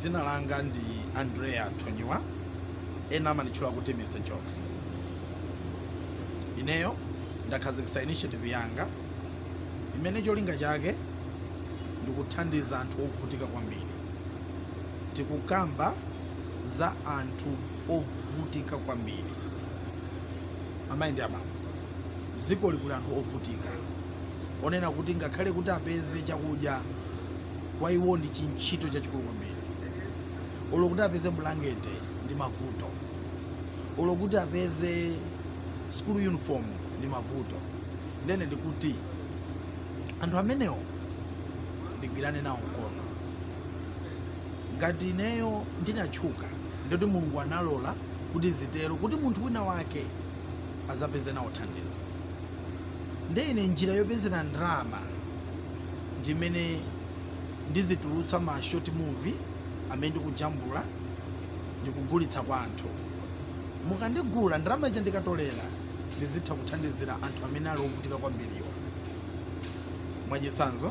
Dzina langa ndi Andrea Thonyiwa, ena amanditchula kuti Mr Jokes. Ineyo ndakhazikitsa initiative yanga imene cholinga chake ndikuthandiza anthu ovutika kwambiri. Tikukamba za anthu ovutika kwambiri, amayi ndi abambo. Dzikoli kuli anthu ovutika, onena kuti ngakhale kuti apeze chakudya kwa iwo ndi chintchito chachikulu kwambiri olo kuti apeze bulangete ndi mavuto olo kuti apeze school uniform ndi mavuto ndene ndikuti anthu amenewo ndigwirane nawo mkono ngati ineyo ndinatchuka ndikuti mulungu analola kuti zitero kuti munthu wina wake azapeze nawo thandizo ndene njira yopezera ndalama ndi imene ndizitulutsa ma short movie amene ndikujambula ndikugulitsa kwa anthu. Mukandigula, ndalama ija ndikatolera ndizitha kuthandizira anthu amene ali ovutika kwambiriwa. Mwachitsanzo,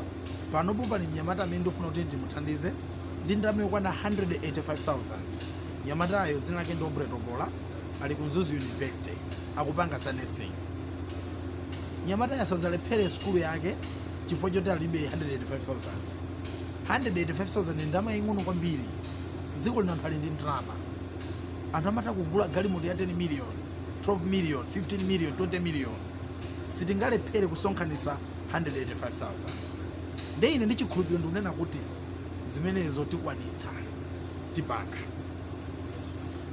panopo pali mnyamata amene ndikufuna kuti ndimuthandize ndi ndalama yokwana 185,000. Mnyamatayo dzina lake ndi Aubrey Topola, ali ku Mzuzu University, akupanga za nursing. Mnyamatayo asadzalephere sukulu yake chifukwa choti alibe 185,000 185,000 ndi ndalama yaying'ono kwambiri dziko lino anthu ali ndi ndalama anthu amatha kugula galimoto ya 10 million 12 million 15 million 20 million sitingalephere kusonkhanitsa 185,000 nde ine ndi chikhulupiriro ndikunena kuti zimenezo tikwanitsa tipanga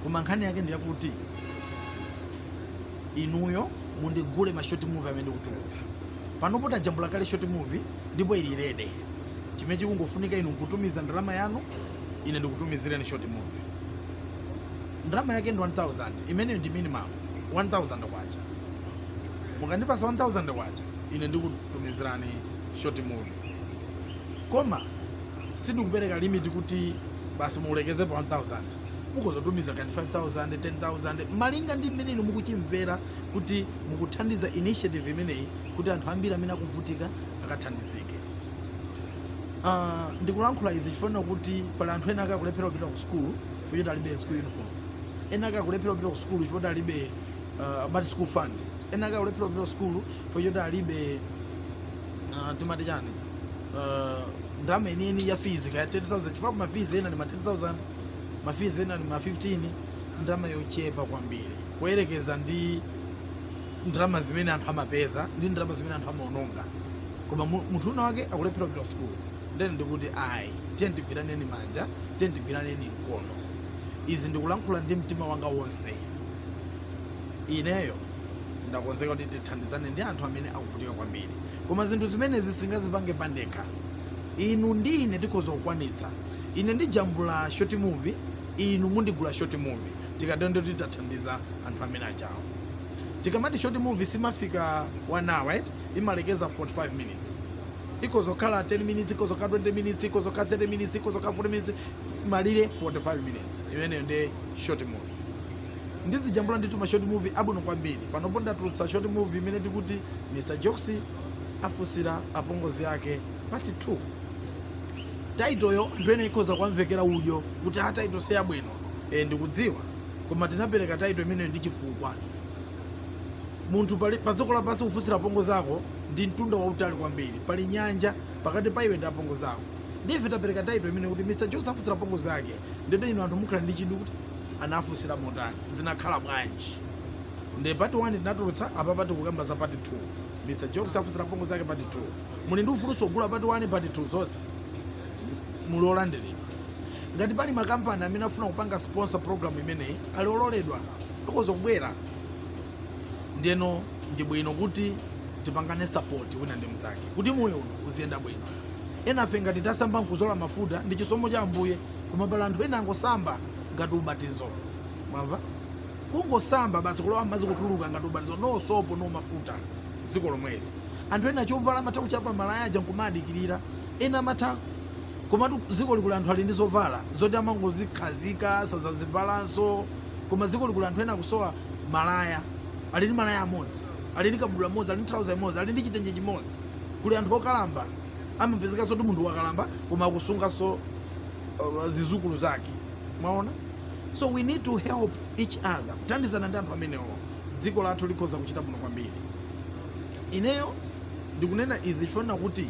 koma nkhani yake ndi yakuti inuyo mundigule ma short movie amene ndikutulutsa Panopo tajambula kale short movie ndipo ili ready. Chimene chikungofunika inu nkutumiza ndalama yanu ine ndikutumizireni short movie. Ndalama yake ndi K1000, imeneyo ndi minimum, K1000. Mukandipatsa K1000 ine ndikutumizirani short movie. Koma sindikupereka limit kuti basi mulekeze pa 1000. Mukhoza kutumiza kaya ndi 5000, 10000 malinga ndi mmene inu mukuchimvera kuti mukuthandiza initiative imeneyi kuti anthu ambiri amene akuvutika akathandizike. Uh, ndikulankhula izi chifukwa kuti pali anthu ena ake akulephera kupita ku sukulu chifukwa choti alibe school uniform, ena ake akulephera kupita ku sukulu chifukwa kuti alibe uh, amati school fund, ena ake akulephera kupita ku sukulu chifukwa choti alibe uh, timati chani uh, ndalama yeniyeni ya fees kaya 30000 chifukwa ma fees ena ni ma 10000 ma fees ena ni ma 15 ndalama yochepa kwambiri. kuyerekeza ndi ndalama zimene anthu amapeza ndi ndalama zimene anthu amaononga koma munthu wina wake akulephera kupita sukulu ndene ndikuti ayi tiyeni tigwirane manja tiyeni tigwirane mkono izi ndikulankhula ndi mtima wanga wonse ineyo ndakonzeka kuti tithandizane ndi anthu amene akuvutika kwambiri koma zinthu zimenezi sindingazipange pandekha inu ndi ine tikhoza kukwanitsa ine ndijambula short movie inu mundigula short movie tikatero ndiye kuti tathandiza anthu amene ajawo tikamati short movie simafika 1 hour right imalekeza 45 minutes ikhoza kukhala 10 minutes ikhoza kukhala 20 minutes ikhoza kukhala 30 minutes ikhoza kukhala 40 minutes malire 45 minutes imeneyo ndi short movie ndizijambula ndithu ma short movie abwino kwambiri panopo ndatulutsa short movie imene tikuti mr jokes afunsira apongozi ake part 2 title yo anthu ena ikhoza kuwamvekera udyo kuti a title siyabwino Eeh ndikudziwa koma tinapereka title imeneyo ndi chifukwa. Munthu padziko lapansi kufunsira apongozi ako ndi mtunda wautali kwambiri. Pali nyanja pakati pa iwe ndi apongozi ako. Ndiye ife tapereka title imeneyo kuti Mr Jokes afunsira apongozi ake. Ndiyeno inu anthu mukhala ndi chidwi kuti anafunsira motani? Zinakhala bwanji? Ndiye part 1 tinatulutsa, apapa tikukamba za part 2. Mr Jokes afunsira apongozi ake part 2. Muli ndi ufulunso wogula part 1, part 2 zonse. muli olandiridwa ngati pali makampani amene akufuna kupanga sponsor program imeneyi ali ololedwa akhoza kubwera ndeno ndi bwino kuti tipangane support wina ndi mnzake kuti moyo uno uziyenda bwino enafe ngati tasamba nkuzola mafuta ndi chisomo cha ambuye koma pali anthu ena angosamba ngati ubatizo mwamva kungosamba basi kulowa madzi kutuluka ngati ubatizo no sopo no mafuta dziko lomweli anthu ena chovala amatha kuchapa malaya aja nkumadikirira Ena amatha komatu dzikoli kuli anthu ali ndi zovala zoti amangozikhazika sadzazivalanso koma dzikoli kuli anthu ena akusowa malaya ali ndi malaya amodzi ali ndi kabudula mmodzi ali ndi trouser imodzi ali ndi chitenje chimodzi kuli anthu okalamba amapezeka zoti munthu wakalamba koma akusunganso uh, zizukulu zake mwaona so we need to help each other kuthandizana ndi anthu amenewo dziko lathu likhoza kuchita bwino kwambiri ineyo ndikunena izi chifukwa kuti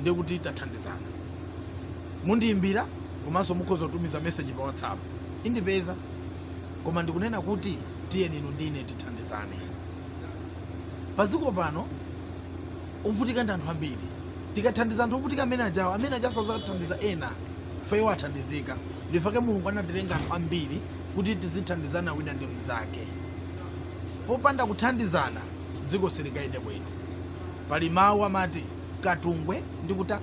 ndiye kuti tathandizana. Mundiimbira komanso mukhoza kutumiza message pa WhatsApp. Indipeza. Koma ndikunena kuti tiyeni inu ndi ine tithandizane. Padziko pano ovutika ndi anthu ambiri. Tikathandiza anthu ovutika amene ajawo, amene ajanso adzathandiza ena chifukwa iwo athandizika. Ndifake Mulungu anatilenga anthu ambiri kuti tizithandizana wina ndi mnzake. Popanda kuthandizana dziko silingayende bwino. Pali mawu amati. Katungwe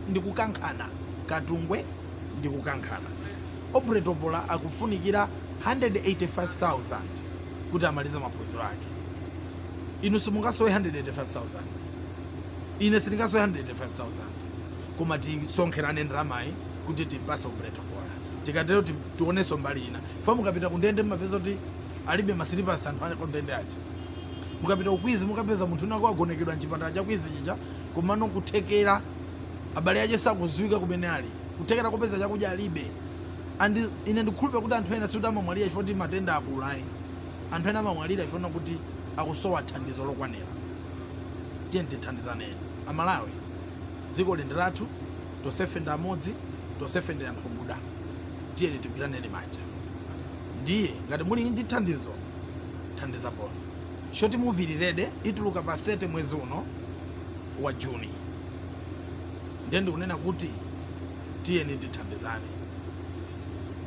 ndi kukankhana Katungwe ndi kukankhana Aubrey Topola akufunikira 185,000 kuti amalize maphunziro ake Inu simungasowe 185,000 Ine sindingasowe 185,000 Koma tisonkherane ndalamayi kuti timpase Aubrey Topola Tikatero tionenso mbali ina chifukwa mukapita kundende mumapeza kuti alibe masilipasi anthu akundende aja Mukapita ku Queens mukapeza munthu wina wake wagonekedwa m'chipatala cha Queens chija Komano kuthekera abale ache sakuziwika kumene ali, kuthekera kopeza chakudya alibe and ine ndikukhulupira kuti anthu ena sikuti amamwalira chifukwa choti matenda akula ayi, anthu ena amamwalira chifukwa chakuti akusowa thandizo lokwanira. Tiyeni tithandizane eni aMalawi dzikoli ndi lathu tonsefe ndife amodzi tonsefe ndife anthu okuda tiyeni tigwiraneni manja ndiye ngati muli ndi thandizo thandizaponi. Short movie ili ready ituluka pa 30 mwezi uno wa June. Ndiye ndikunena kuti tiyeni tithandizane.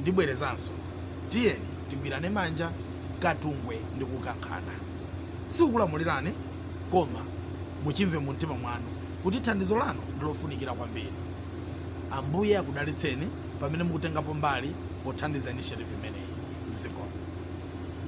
Ndibwerezanso, tiyeni tigwirane manja katungwe ndi kukankhana. Sikukulamulirani koma muchimve mu mtima mwanu kuti thandizo lanu ndi lofunikira kwambiri. Ambuye akudalitseni pamene mukutengapo mbali pothandiza initiative imeneyi. Zikomo.